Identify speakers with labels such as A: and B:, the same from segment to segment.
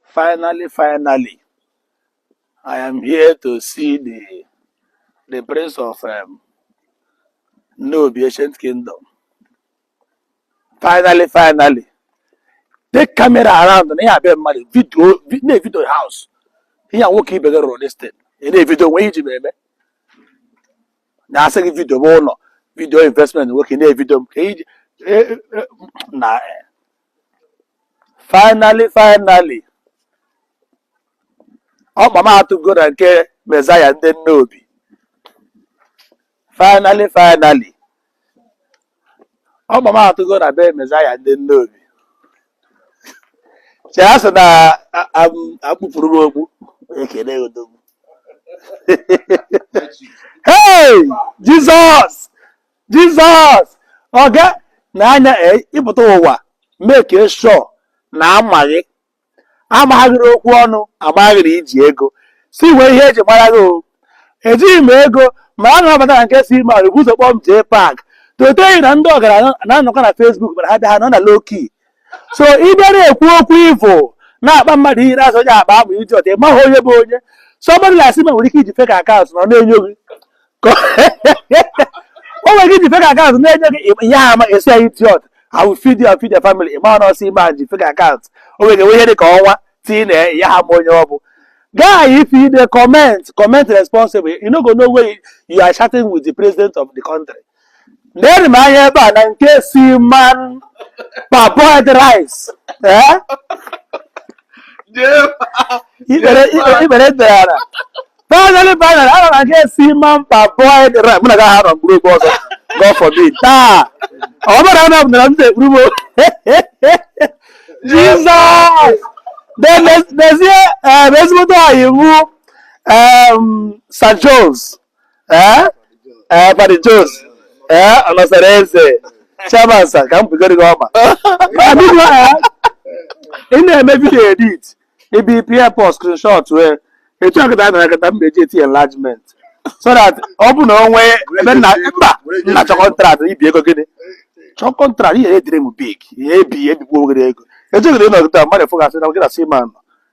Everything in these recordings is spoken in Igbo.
A: Finally, finally, I am here to see the, the prince of um, Nnobi ancient kingdom. Finally, finally, take camera around na ya abịa mmadụ video na-evidio house ihe a nwoke ibe gị rụrụ this thing ị na-evidio nwe iji eme na-asị gị vidio bụ ụlọ vidio investment nwoke na-evidio m ka iji e, e, na finally finally ọkpa m atụgo na nke Messiah ndị Nnobi finally finally ọkpa m atụgo na be Messiah ndị Nnobi che a sị na a- am- akpụpụrụ m okpu ekele odogwu hey jizọs jizọs oge na anya e- ịpụta ụwa make sure na amaghị amaghịrị okwu ọnụ amaghịrị iji ego si wee ihe eji mara gị o ejighị m ego ma a na-abata na nke Seaman bụ ụzọ kpọọ m jee park toteghị na ndị ọgaranya na-anọkọ na Facebook mana ha bịa ha nọ na low key so ị bịara ekwu okwu ifo na-akpọ mmadụ iyi na-asị onye akpa amụ idiot ịmaghị onye bụ onye somebody like Seaman nwere ike iji fake account na ọ na-enyo gị o nwere ike iji fake account na-enyo gị ị ya ama asị ya idiot I will feed your feed your family ịma na ọ Seaman ji fake account o nwere enwe ihe dị ka ọnwa tii na ya ha ma onye ọ bụ guy if you dey comment comment responsible you no go know where you are chatting with the president of the country neenụ m anya ebe a na nke Seaman parboiled rice ee ikpere ikpere ikpere dara ala finally finally ana m aga Seaman parboiled rice mụ na gaghị arọ mkpụrụ oge ọzọ god forbid taa ọ bụrụ na m nara m na-ekpuru m jizọs dezie ezigbote ọyị mụ St. John's ee ee Paddy Jones ee ọnọsara eze chairman sir ka m bigoro gị ọma Abeg o, eh, ị na-eme vidio edit ibi pịa post screenshot wee etu akịta a na-akịta m na-eji eti enlargement so that ọ bụ na onwe ebe nna mba nna chọ contract ibi ego gịnị chọ contract he dream big ihe ebi ebikwa oghere ego echeghịrị ịnọgịta mmadụ fụgasị na gị na Seaman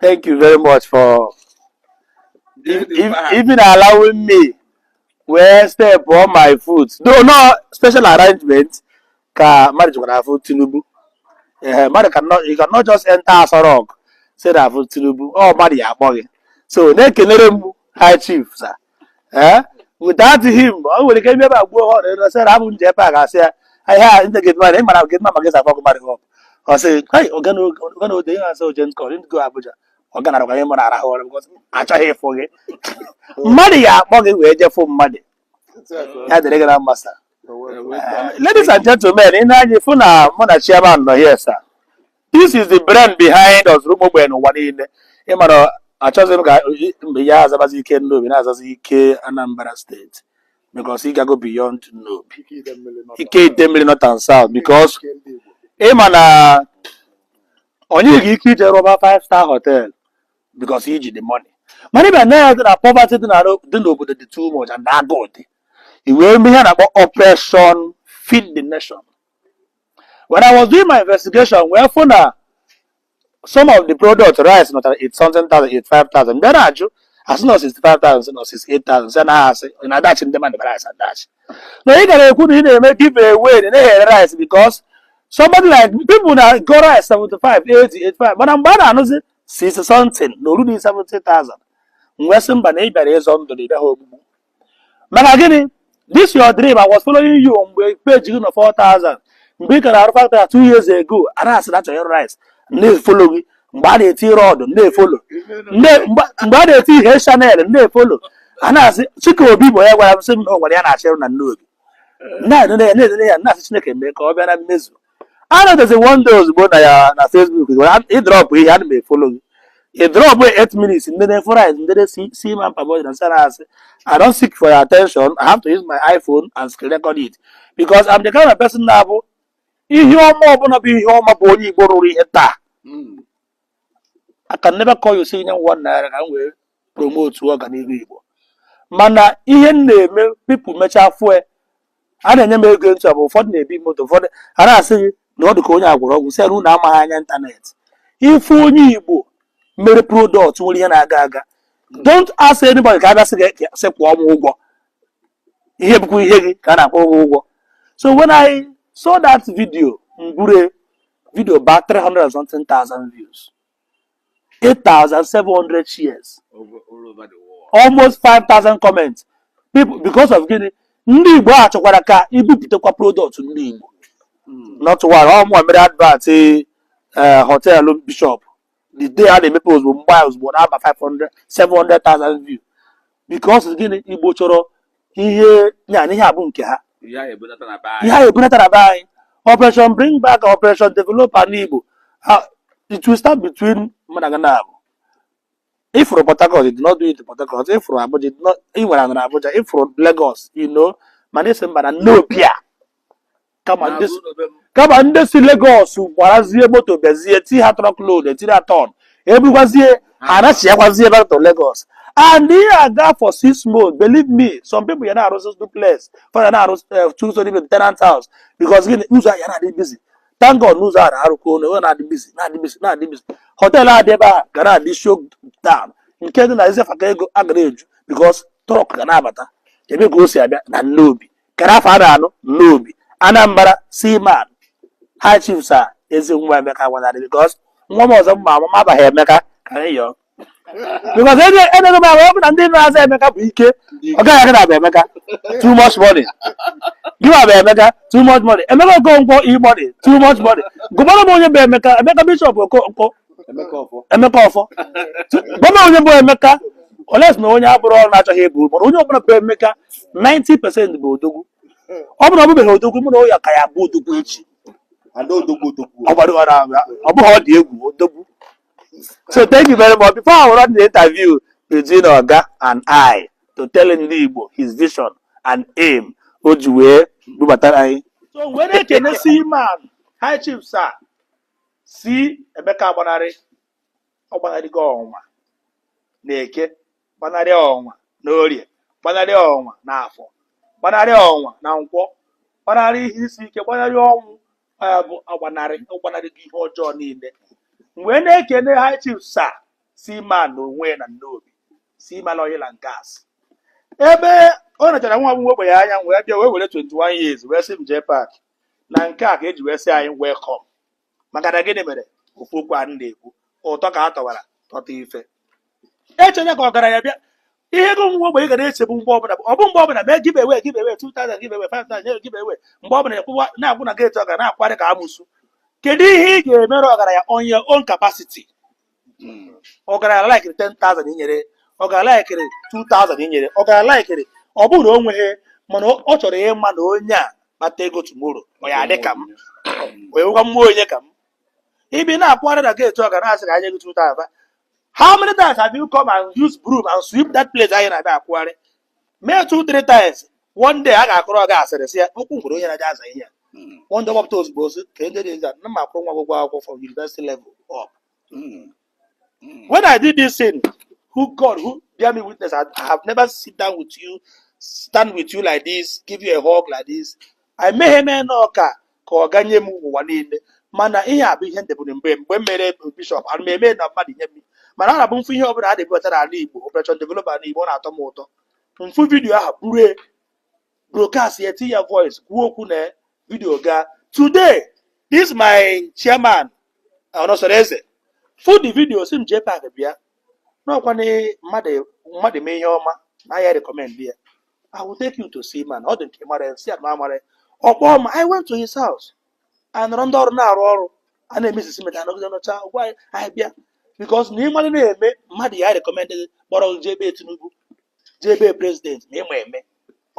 A: Thank you very much for if, if, even allowing me wee step on my foot. Though no special arrangement ka mmadụ jikwa na afụ Tinubu. Ee, mmadụ cannot, you cannot just enter Aso Rock say na afụ Tinubu. Ọ mmadụ ya akpọ gị. So na-ekelere m High Chief sir. ee without him ọ nwere ike ebe agbuo ha ọrịa ọsị na abụ m jee pak asị ya ihe a ndị gị mara ịmara gị mma gị zakwa ọgụmarị họp ọ sị "Hey, ọga na oge- ọga na ode ihe asị oje nkọ ndị go abuja ọ ganara kwa ihe mụ na-arahụ ụra because achọghị ịfụ gị mmadụ ya akpọ gị wee jefụ mmadụ ya dịrị gị na mma sir ladies and gentlemen i nee anya ị fụ na mụ na chairman nọ here sir this is the brain behind ọzụrụ ụmụ ogbenye n'ụwa niile ị mara achọghịzị m ka mgbe ya azabazi ike nnobi na-azazi ike anambra state because ị gago beyond nnobi ike ite mmiri north and south because ị ma na onye ga ike ije rụba five star hotel because i ji the money mana ị bịa na ya dị na poverty dị na- dị n'obodo dị too much and agụụ dị i wee mee ihe a na-akpọ operation feed the nation when I was doing my investigation wee fụ na some of the product rice nọtara 85,000 m bịa na-ajụ a sị na 65,000 na 68,000 sị na a sị na-adashi ndị mmadụ rice adashi na ị gara ekwu na ị na-eme give away na na-ere rice because somebody like people na-ego rice 75 80 85 mana mgbe a na-anụzi 60 something na orudi 70,000 m wee sị mba na ị bịara ịzọ ndụ na ị bịaghị ogbugbu maka gịnị this your dream I was following you mgbe page gị nọ 4000 mgbe ị ka na-arụ factory two years ago a na-asị na chọrọ rice na-efolo gị mgbe a na-eti rod na-efolo mgbe a na-eti ihe channel na-efolo a na-asị chike obi bụ onye gwara m sị m na o nwere ihe a na-achọ ịrụ na nnobi na-edene ya na-asị chineke mee ka ọ bịa na mmezu anọdụzi one day ozugbo na Facebook ị drọpụ ihe ana m efolo gị ị drọpụ 8 minutes ndị na-efo rice ndị na-esi si ma parboil na-asa rice I don't seek for your attention I have to use my iPhone and screen record it because I'm the kind of person na-abụ ihe ọma ọbụla bụ ihe ọma bụ onye Igbo rụrụ ihe taa I can never call you say nye m one naira ka m wee promotu ọganihu Igbo mana ihe m na-eme people mechaa fue a na-enye m ego ntu bụ ụfọdụ na-ebi moto ụfọdụ a na-asị gị na ọ dị ka onye agwọrọ ọgwụ sị na amaghị anya ịntanetị ife onye Igbo mere product nwere ihe na-aga aga don't ask anybody ka a bịa sị gị sị kwụọ m ụgwọ ihe bụkwa ihe gị ka a na-akwụ ụgwọ so when I saw that video m buru video ba 300 something thousand views 8,700 shares over, all
B: over the world. almost
A: 5,000 comments people because of gịnị ndị igbo achọkwara ka i bupụtakwa product ndị igbo nọtụwara ọ mụnwa mere advert eh, hotel bishop the day a na-emepe ozugbo mgbe ahụ ozugbo na-aba 500 700,000 view because gịnị igbo chọrọ ihe ya na ihe abụ nke ha ihe ahụ ebunata na be anyị operation bring back operation develop ana igbo Ah, it will start between mana ọ ga na-abụ ị fụrụ port harcourt you did not do it in port harcourt ị fụrụ abuja you did not- ị nwere anara abuja ị fụrụ lagos you know mana ọ sị mba na nnobi a kama ndị si- kama ndị si Lagos gbarazie moto bịazie ti ha truck load etiri atọn ebukwazie ha anachịakwazie back to Lagos and ihe a gaa for six months believe me some people ya na-arụzi duplex fa ya na-arụ eh, two story with tenant house because gịnị ụzọ ahụ ya na-adị busy thank God n'ụzọ a na-arụkọ ụlọ ọ na-adị busy na-adị busy na-adị busy hotel a dị ebe a ga na-adị show down nke dị na izefaka ego a ga na-eju because truck ga na-abata ebe ka o si abịa na nnobi kere afọ a na nnobi anambra seaman high chief sir ezi nwa emeka agbanarị because nwa m ọzọ m ma amụ ma abaghị emeka ka anyị yọọ because enego m ahụ ọ bụ na ndị na-aza emeka bụ ike ọ gaghị aga na bụ emeka too much money gịwa bụ emeka too much money emeka okonkwo e-money too much money gụbara m onye bụ emeka emeka bishop okonkwo Emeka Ọfọ. emeka ọfọ gụbara m onye bụ emeka unless na onye a bụrụ ọnụ na-achọghị ịbụ mana onye ọbụla bụ emeka 90% bụ odogwu ọ bụrụ na ọ bụbeghị odogwu ma na ọ ya ka ya-abụ odogwu echi Ada odogwu odogwu. ọ gbara ọrụ ahụ ya. ọ bụghị ọ dị egwu odogwu so thank you very much before I run the interview between oga and I to tell ndị Igbo his vision and aim o ji wee bubatara anyị so wee na-ekene seaman high chief sir sị Emeka agbanarị ọ gbanarịgo ọnwa na eke gbanarị ọnwa na orie gbanarị ọnwa na afọ gbanarị ọnwa na nkwọ gbanarị ihe isi ike gbanarị ọnwụ ya bụ agbanarị gbanarịgo ihe ọjọọ niile m wee na-ekene high chief sir seaman na onwe na nnobi seaman oil and gas ebe ọ nachara nwa ogbenye anya wee bịa wee were 21 years wee sị m jee pack na nke a ka e ji wee sị anyị welcome maka na gịnị mere ofu okwu a na-ekwu ụtọ ka a tọwara tọta ife eche na ka ọgaranya bịa ihe ego nwa ogbenye ga na-echegbu mgbe ọbụla ọ bụ mgbe ọbụla mee give away give away 2000 give away 5000 give away mgbe ọbụla a kwụwa na-akwụ na gate ọga na-akwarị ka amụsụ kedu ihe ị ga-emere ọgaranya on your own capacity hmm. ọgaranya laikiri 10,000 i nyere ọgaranya laikiri 2,000 i nyere ọgaranya laikiri ọ bụghị na o nweghị mana ọ chọrọ ịma na onye a kpata ego tomorrow ọ ya adị ka m wee nwekwa mmụọ onye ka m ị bịa na-akwụgharị na gate ọga na-asị ka e nye gị 2,000 how many times have you come and use broom and sweep that place anyị na-abịa akwụgharị mee two three times one day a ga-akụrụ ọga asịrị sị ya okwu ngwere onye na-aja aza ihe ya Mm. one day gbapụta ozugbo ozi ka ndị dị nza na m akwụrụ nwa gị ụgwọ akwụkwọ from university level up Mm. Mm. when I did this thing, who God, who bear me witness, I, I have never sit down with you, stand with you like this, give you a hug like this. I met him in Oka. ka ọ ga-enye m ụwa niile mana ihe a bụ ihe ndebụrụ mgbe mgbe m mere bishọp ana m eme na mmadụ nye m mana ọ na-abụ m fụ ihe ọbụla a na-ebubata n'ala igbo operation develop ala igbo ọ na-atọ m ụtọ m fụ vidiyo ahụ buru broadcast ya tinye ya voice kwuo okwu na vidiyo gaa today this my chairman ọnọsọrọ eze fụ the video sị m jee pak bịa na ọkwa na mmadụ mmadụ mee ihe ọma na ya rekọmend ya I will take you to Seaman ọ dị nke mara si ya na amara ọ kpọọ m I went to his house anyị nọrọ ndị ọrụ na-arụ ọrụ a na-emesisi meta anọgide nọcha gwa anyị anyị bịa because na ịmalị na-eme mmadụ ya rekọmendị kpọrọ gị jee ebe Tinubu jee ebe president ma ịma eme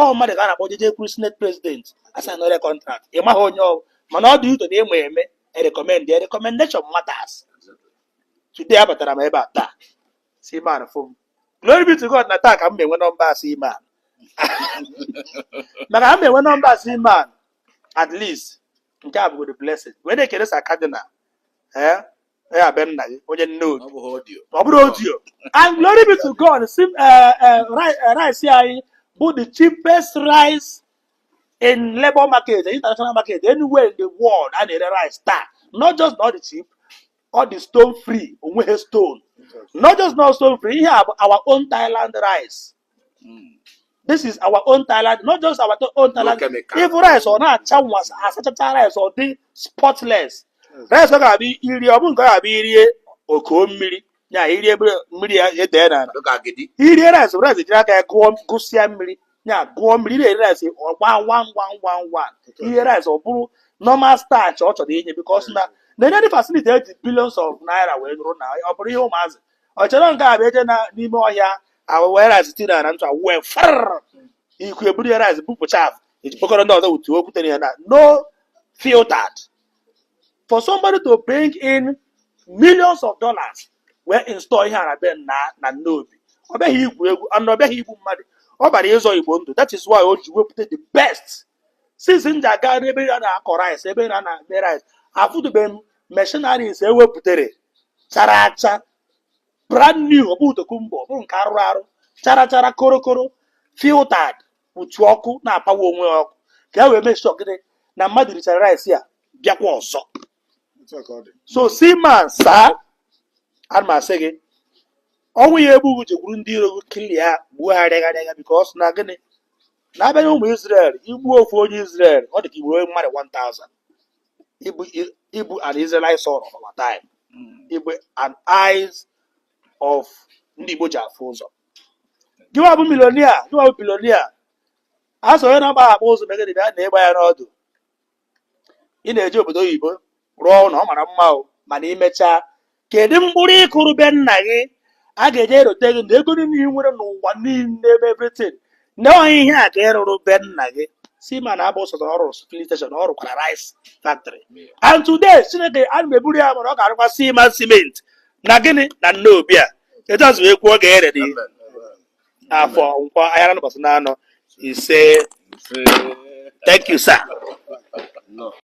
A: ọ mmadụ ka a na-akpọ gị jekwuru senate president asaịnọrọ kọntrakt ị maghị onye ọ mana ọ dị ụtọ na ịma eme rekọmendị rekọmendeshọn matters today abatara m ebe a taa Seaman farm glory be to god na taa ka m na-enwe nọmba Seaman maka m na-enwe nọmba Seaman at least nke a bụgodo blessing wee na-ekele sa kadinal ee ya be nna gị onye nnobi ọ bụghị ọdio ọ bụrụ ọdio and glory be to god sị eh, eh, ri- eh, rice anyị bụ the cheapest rice in labour market international market anywhere in the world a na-ere rice taa not just na ọ dị cheap ọ dị stone free onweghị stone not just na ọ stone free ihe a bụ our own Thailand rice this is our own Thailand not just our to- own Thailand chemical. ị fụ rice ọ na-acha nwa asachacha rice ọ dị spotless rice ọ ga-abụ iri ọ bụ nke ọ ga-abụ irie o koo mmiri ya irie bere- mmiri ya edee n'ala Look at Gidi. irie rice rice jiri aka ya gụọ gụsịa mmiri ya gụọ mmiri ị na-eri rice ọ gbaa ngwa ngwa ngwa ngwa irie rice ọ bụrụ normal starch ọ chọrọ inye because na nenenụ facility eji billions of naira wee rụọ na ọ bụrọ ihe ụmụazị ọ chọrọ nke a bụ eje na n'ime ọhịa ahụ were rice tinye na ntụ awụ wee farrrr ikuku eburu ya rice bupụ chaff eji kpokọrọ ndị ọzọ wutuo okwutere ya na no filtered for somebody to bring in millions of dollars wee install ihe a n'ebe a na nnobi ọ bịaghị igwu egwu and ọ bịaghị igbu mmadụ ọ bịara ịzọ igbo ndụ that is why o ji wepụta the best since m ji aga ebe a na-akọ rice ebe a na-eme rice afụtụbeghị m machineries ewepụtara chara acha brand new ọ bụghị tokumbo ọ bụrọ nke arụrụ arụ chara chara korokoro filtered kpuchie ọkụ na-apawa onwe ya ọkụ ka e wee make sure that na mmadụ richara rice ya bịakwa ọzọ so Seaman sir a na m asị gị ọnwụ ya-egbu gị jekwuru ndị iro gị clear gbuo ha rịagharịa because na gịnị na a bịa na ụmụ Izrel igbu ofu onye Izrel ọ dị ka igbu mmadụ 1000 ị bụ an Israelite son of our time ị bụ an eyes of ndị Igbo ji afụ ụzọ gịwa bụ millionaire gịwa bụ billionaire a sọ onye na-agba akpa ụzọ megide bịa na ịgba ya n'ọdụ ị na-eje obodo oyibo rụọ ụnọ ọ mara mma o mana i mechaa kedu mkpụrụ ị kụrụ be nna gị a ga-eji erote gị na ego niine ị nwere n'ụwa niine ma everything na ọ ihe a ka ị rụrụ be nna gị Seaman abụ sọsọ ọrụ filling station ọ rụkwara rice factory and today Chineke a na eburu ya mara ọ ga-arụkwa Seaman cement na gịnị na Nnobi etu a si ekwu ọ ga-erere gị afọ nkwọ ahịa na mbọsị na anọ ise thank you sir